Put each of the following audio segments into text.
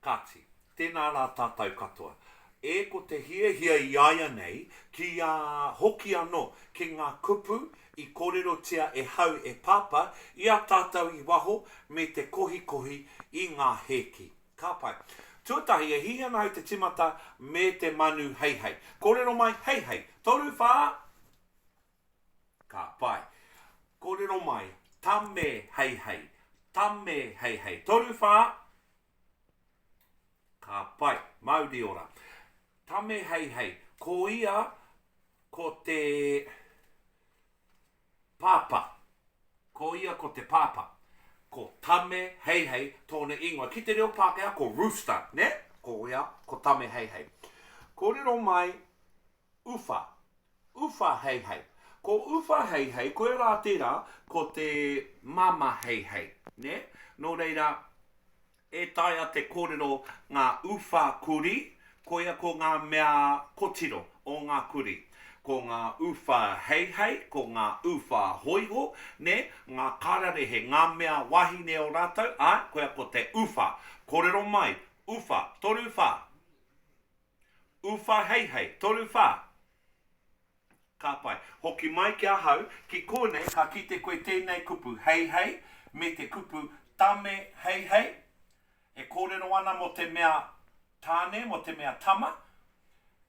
Kāti, tēnā rā tātou katoa. E ko te hiahia i āianei, kia hoki anō ki ngā kupu i kōrerotia e hau e Pāpā i a tātou i waho me te kohikohi i ngā hēki. Ka pai. Tuatahi, e hiahia ana au te timata me te manu heihei. Kōrero mai, heihei. Toru, whā! Ka pai. Kōrero mai, Tame heihei, tame heihei. Toru whā. Ka pai. Mauri ora. Tame heihei. Ko ia, ko te pāpā. Ko ia ko te pāpā. Ko tame heihei tōna ingoa. Ki te reo Pākehā, ko rooster, nē? Ko ia, ko tame heihei. Kōrero mai, Uwha. Uwha heihei. Ko uwha heihei, koia rā tērā, ko te māmā heihei, nē? Nō reira, e taea te kōrero ngā uwha kurī, koia ko ngā mea kotiro o ngā kurī. Ko ngā uwha heihei, ko ngā uwha hōiho, nē, ngā kararehe, ngā mea wahine o rātou, āe, koia ko te uwha. Kōrero mai, uwha, toru wha. Uwhaheihei, toru wha. Ka pai. Hoki mai ki ahau, ki konei ka kite koe tenei kupu heihei me te kupu tame heihei e korero ana mo te mea tane, mo te mea tama,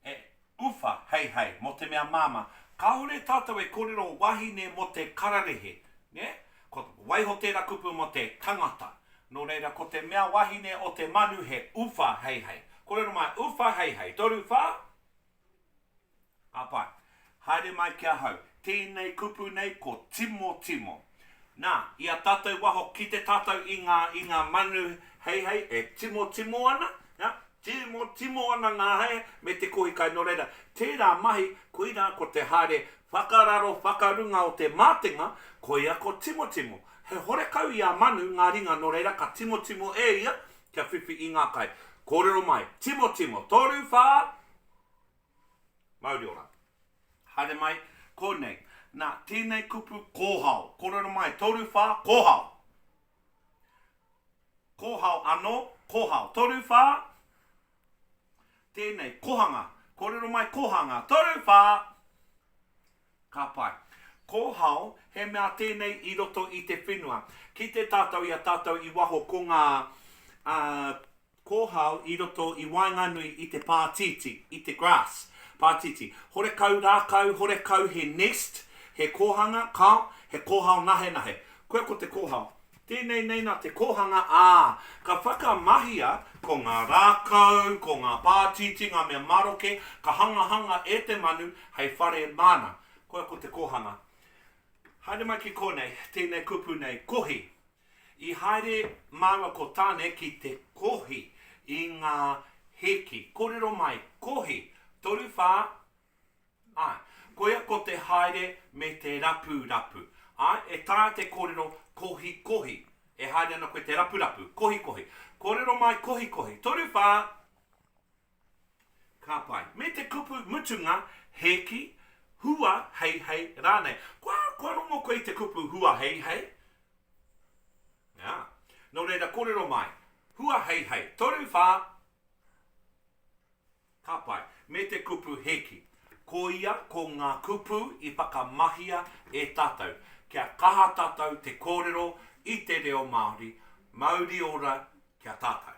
e uwha heihei mo te mea mama. Kahore tatou e korero wahine mo te kararehe, ne? Ko waiho tēra kupu mo te tangata. No reira ko te mea wahine o te manu he uwha heihei. Korero mai, uwha heihei, toru wha? A pai. Haere mai ki ahau. Tēnei kupu nei ko timotimo. Na, i a tatou waho kite tatou i nga, i nga manu heihei e timotimo ana, Hea? Timo, timo ana ngā hae me te kohi kai, nō reira, tērā mahi, koirā ko te haere whakararo whakarunga o te mātenga, koia ko timotimo. He horekau i a Manu ngā ringa, nō reira, ka timotimo e ia kia whiwhi i ngā kai. Kōrero mai, timotimo, toru, whā, mauri ora. Haere mai, kōnei. Nā, tēnei kupu kōhao. Kōrero mai, toru, whā, kōhao. Kōhao anō, kōhao. Toru, whā. Tēnei, kohanga. Kōrero mai, kohanga. Toru, whā. Ka pai. Kōhao, he mea tēnei i roto i te whenua. Kite tātou i a tātou i waho ko ngā Kōhao i roto i waenganui i te pātītī, i te grass, pātītī. Horekau rākau, horekau he nest, he kōhanga, kao, he kōhao nahenahe. Koia ko te kōhao. Tēnei nei nā te kōhanga, ā, ka whakamahia ko ngā rākau, ko ngā pātītī, ngā mea maroke, ka hangahanga e te manu hei whare māna. Koia ko te kōhanga. Haere mai ki kōnei, tēnei kupu nei, kohi. I haere māua ko Tane ki te kohi i ngā hiki. Kōrero mai, kohi, toru whā, āe. Koia ko te haere me te rapurapu. Āe, e taea te kōrero kohikohi. E haere ana koe te rapurapu, kohikohi. Kōrero mai, kohikohi, toru whā, Ka pai. Me te kupu mutunga, hēki, hua, heihei, rānei. Kua, kua rongo koe i te kupu hua, heihei? Ā. Nō reira, kōrero mai. Hua, heihei. Toru, whā. Ka pai. Me te kupu hēki. Ko ia, ko ngā kupu i whakamahia e tātou, kia kaha tātou te kōrero i te reo Māori, mauri ora ki a tātou.